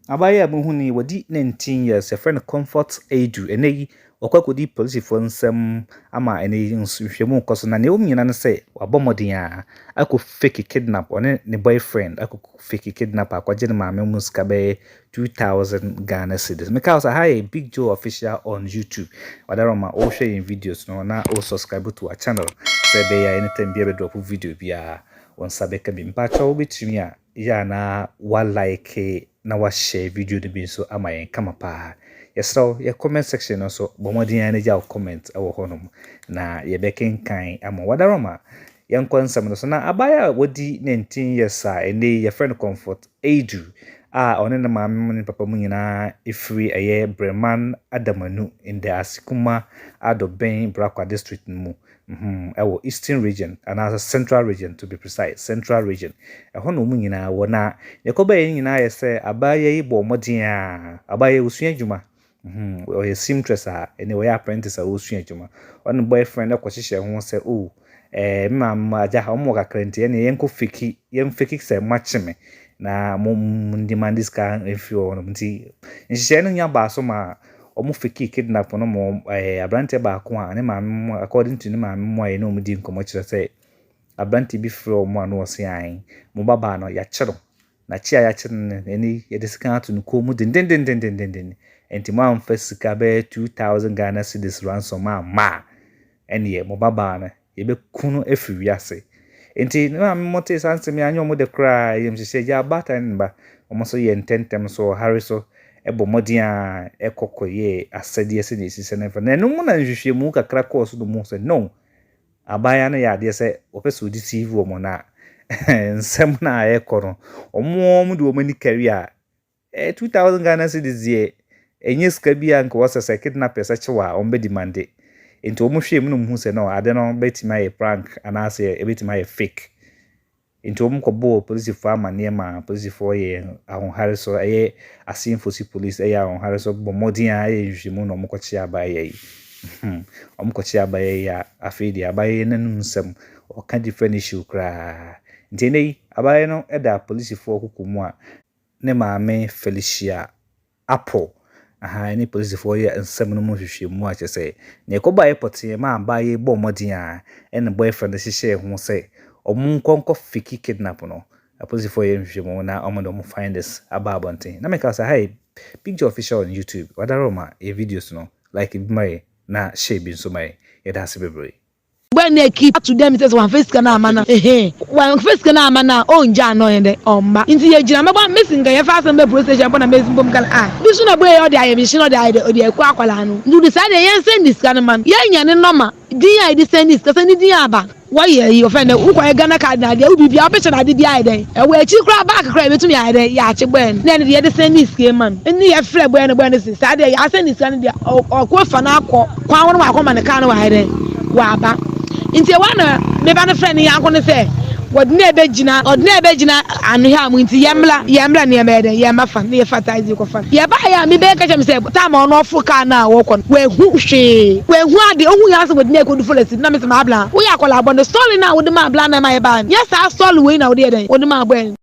Abaayewa a muhu no yi, wadi nineteen years. Yɛfrɛ no Comfort Adu. Ɛnnɛ yi, wakɔ akɔdi polisifoɔ nsam ama ɛnnɛ yi nso nhwehwɛmu rekɔ so. Na nea ɛwom nyinaa ne sɛ, wabɔ mmɔden ara akɔ fake kidnap, ɔne ne boyfriend akɔ fake kidnap akɔgye ne maame mu sika bɛyɛ two thousand Ghana cedis. Meka wo sɛ, aha yɛ Big Joe Official on YouTube. Wadaroma, wohwɛ yɛn videos no na wo subscribe to our channel sɛ ɛbɛyɛ a anytime biara yɛbɛdrop video biara, wo nsa bɛka bi. Mpakyɛw wobɛtumi a, yɛ a na wa like na wa share video no bi nso ama yɛn kama paa. Yɛsrɛ wo yɛ comment section no nso bɔ mmɔden ara na gya wo comment wɔ hɔnom na yɛbɛkenkan ama wo. Wadaroma, yɛnkɔ nsɛm no so. Na abaayewa a wadi 19 years a ɛnnɛ yi yɛfrɛ no Comfort Adu a ɔne ne maame mu ne ne papa mu nyinaa firi ɛyɛ Breman Adamanu, Ndɛ Asekuma, Adobɛn, Brakwa District no mu Hmmm ɛwɔ Eastern region anaasɛ Central region to be precise, Central region, ɛhɔ na wɔn nyinaa wɔ. Na deɛ ɛkɔ bɛyɛ ne nyinaa ayɛ sɛ abaayewa yi bɔɔ mmɔden a, abaayewa yi ɔsua adwuma, hmmm ɔyɛ seamtress a, ɛnneɛ ɔyɛ apprentice a ɔresua adwuma. Ɔne boyfriend no kɔhyehyɛɛ ho sɛ oh ɛɛ me maame me agya wɔn wɔ kakra nti ɛnneɛ yɛnkɔ fake, yɛn fake sɛ moakye me na mo mo demande sika mfiri wɔn nti nhyehyɛeɛ no nya baa so maa Wɔn fekii kidnap no ma wɔn ɛɛ abranteɛ baako a ne maame mmoa according to ne maame mmoa yɛ ne wɔn dii nkɔmɔ kyerɛ sɛ abranteɛ bi frɛ wɔn a na wɔn se ae mo ba baa no yɛakye no na kye a yɛakye no no ɛne yɛde sika ato no kɔn mu dendendendendenden ɛnti mo amfa sika bɛyɛ two thousand Ghana cedis ransom amma a ɛneɛ mo ba baa no Yɛbɛku no afiri wiase. Enti ne maame mo tee saa nsɛm yi a, anyɛ wɔn dɛ koraa. Ayamhyehye agya, ɔbaatan ne ne ba, wɔn nso yɛɛ ntɛmntɛm so wɔ hare so bɔ mmɔden ara kɔ kɔyɛɛ asɛdeɛ sɛdeɛ ɛsi sɛ no mfa. Na ɛno mu na nhwehwɛmu kakra kɔɔ so na wɔhuu sɛ, no, abaayewa no yɛ adeɛ sɛ ɔpɛ sɛ ɔdeceive wɔn na nsɛm no a ɛrekɔ no, wɔn ara wɔde wɔn ani kari a Eh, two thousand Ghana cedis deɛ, ɛnyɛ sika bi a nka wɔsɛ sɛ kidnappers kye wo a wɔn bɛ demande. Nti wɔn hwɛ mu na wɔn hu sɛ no ade no bɛtumi ayɛ prank anaasɛ ɛbɛtumi ayɛ fake. Nti wɔn kɔ bɔɔ polisifoɔ amaneɛ ma polisifoɔ yɛ ahohare so ɛyɛ Asinfosi police ɛyɛ ahohare so bɔ mmɔden a ɛyɛ nhwehwɛmu na wɔn kɔ kye abayewa yi. Hmm, wɔn kɔ kye abayewa yi a afei deɛ abayewa yi n'anum nsɛm ɔka different issue koraa. Nti ɛnɛ yi abayewa no ɛda polisifoɔ kuku mu a ne maame Felicia Apple aha ne polisifoɔ reyɛ nsɛm no mu nhwehwɛmu a kyerɛ sɛ nea ɛkɔbaeɛ pɔtee maa abaayewa yi bɔɔ mmɔden a ɛne ne boyfriend no hyehyɛɛ ho sɛ wɔnkɔ nkɔ fake kidnap no. Apolisifoɔ reyɛ nhwehwɛmu na wɔde wɔn findings aba abɔnten. Na meka sɛ ha yɛ Big Joe Official on YouTube. Wadaworo ma yɛn videos no, like bi ma yɛn na share bi nso ma yɛn. Yɛda ase bebree. Ebɛn na ekeep ato dɛ mese sɛ ɔammfa sika no amma no a? Ehee. Ɔammfa sika no amma no a, onngyaa no a ɔnnyɛ dɛn? Ɔmma. Ntsi yegyina mɛbɔ a mesi nka yɛmfa asɛm bɛyɛ police station a mpo na mesi mpo mekã no a, bi so na bue yɛ ɔde ayɛ me hye na ɔde ayɛ dɛ ɔde eku akwadaa no. Ntsi ɔde saa deɛ yɛnsɛndi sika no mma no. Yɛnyɛ ne nɔma. Dzin a yɛde sɛndi sika sɛ ne dzin aba. Wɔyɛ eyi, wɔfrɛ no dɛ wokɔyɛ Ghana card na ade a, wo biribiara, wo picture na ade biara ayɛ dɛn? Ɛwɔ ekyir koraa back koraa a yebotum yɛayɛ dɛn? Yɛakye bɔɛ no. Nna ɛno de yɛde sɛndi sika yi ma no. Nna yɛfrɛ bɔɛ no, bɔɛ no se saa deɛ yɛasɛndi sika no deɛ ɔkɔ efa no akɔ. Kwan wo ne wakɔ ma ne car no wayɛ dɛn waba nti ɛhɔ na me ba no frɛ ne yanko no sɛ wɔde na ɛbɛgyina ɔde na ɛbɛgyina anohwɛ mu nti yɛmmla yɛmmla ne yɛmmɛyɛ dɛn yɛmma fa ne yɛfa tae dze kɔfa no yɛbaeɛ a me ba ka kyerɛ me sɛ time a ɔno ɔforo car no a wɔkɔ no wahu hwee wahu ade ɔhu yɛ asɛ wɔde na ɛkɔdu forest no na me sɛ m'abla woyɛ akwadaa bɔne sɔre no a wode ma abla na ɛma yɛbaeɛ no nyɛ saa sɔre wei na wode yɛ dɛn wode ma abɔɛ no.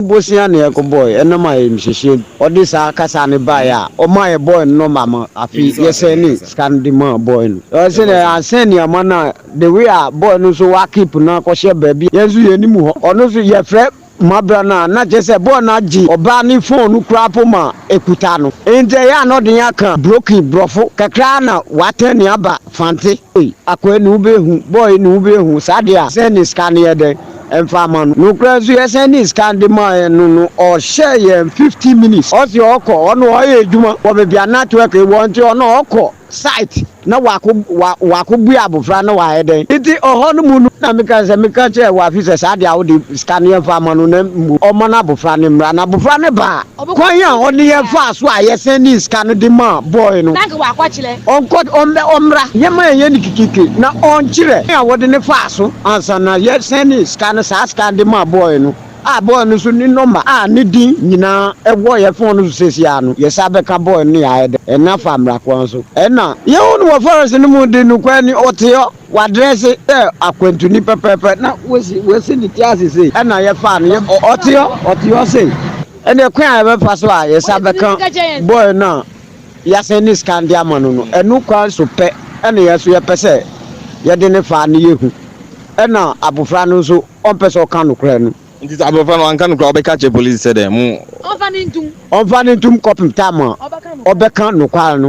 Bosea na yɛkɔbɔe ɛnam ayamhyehyeɛ nti, ɔde saa kasa no baeɛ a ɔmaa yɛbɔɔ no nɔma ma afei yɛsɛnee sika no de maa boy no. Ɛwɔ sɛ nea yɛansɛn nneɛma no a, the way a boy no nso wa keep no akɔhyɛ baabi a yɛn nso yɛnnim hɔ, ɔno nso yɛfrɛ ma berɛ no a na kyerɛ sɛ boy no agye ɔbaa no phone no koraa mpo ma ɛkuta no. Enti ɛyɛ a na ɔde yɛn aka broken, borɔfo, kakra ara na watɛn yɛn aba Fante. Ei, akwaa ni wobɛhu, boy ni wobɛhu, saa deɛ a sɛnee sika no yɛ dɛn? ɛmfa ma no. Nokorɛ nso yɛsan de sika de maeɛ no no ɔhyɛɛ yɛn fifty minutes ɔse ɔkɔ ɔno ɔyɛ adwuma wɔ baabi a network wɔ nti ɔno ɔkɔ site na wako wa wako bue abofra na wayɛ dɛn nti ɔhɔ no mu no na meka sɛ meka kyerɛ wafi sɛ saa deɛ a wode sika no yɛmfa ma no na mmom ɔmma no abofra no mmra na abofra no baa Kwan a ɔne yɛn faa so a yɛsan nii sika no de maa boy no, ɔnkɔ ɔmmɛ ɔmmra yɛmma yɛnyɛ no kikiki na ɔnkyerɛ kwan a wɔde no faa so ansa na yɛsan nii sika no, saa sika no de maa boy no a boy no nso ne nɔma a ne din nyinaa wɔ yɛn fon no so seesei ara no, yɛsan bɛka boy no ne yɛayɛ dɛ, ɛnna fa mmra kwan so. Ɛnna yɛhu no wɔ forest no mu de no kwan ni, ɔte hɔ. Wadrɛse dɛ akwantuni pɛpɛɛpɛ na woesi woesi ne tsir ase sei na yɛfaa no yɛ ɔtse hɔ ɔtse hɔ sei. Ndɛ kwan a yɛbɛfa so a yɛsan bɛka boy no a yɛasen ne scan dze ama no no, ɛno kwan so pɛ na yɛn so yɛpɛ sɛ yɛde no fa na yehu na abofra no nso ɔmpɛ sɛ ɔka nokorɛ no. Nti sɛ abofra no anka nokorɛ a ɔbɛka akyerɛ polisi sɛ dɛn? Mo. Ɔmfa no ntum kɔpem time a ɔbɛka nokwar no.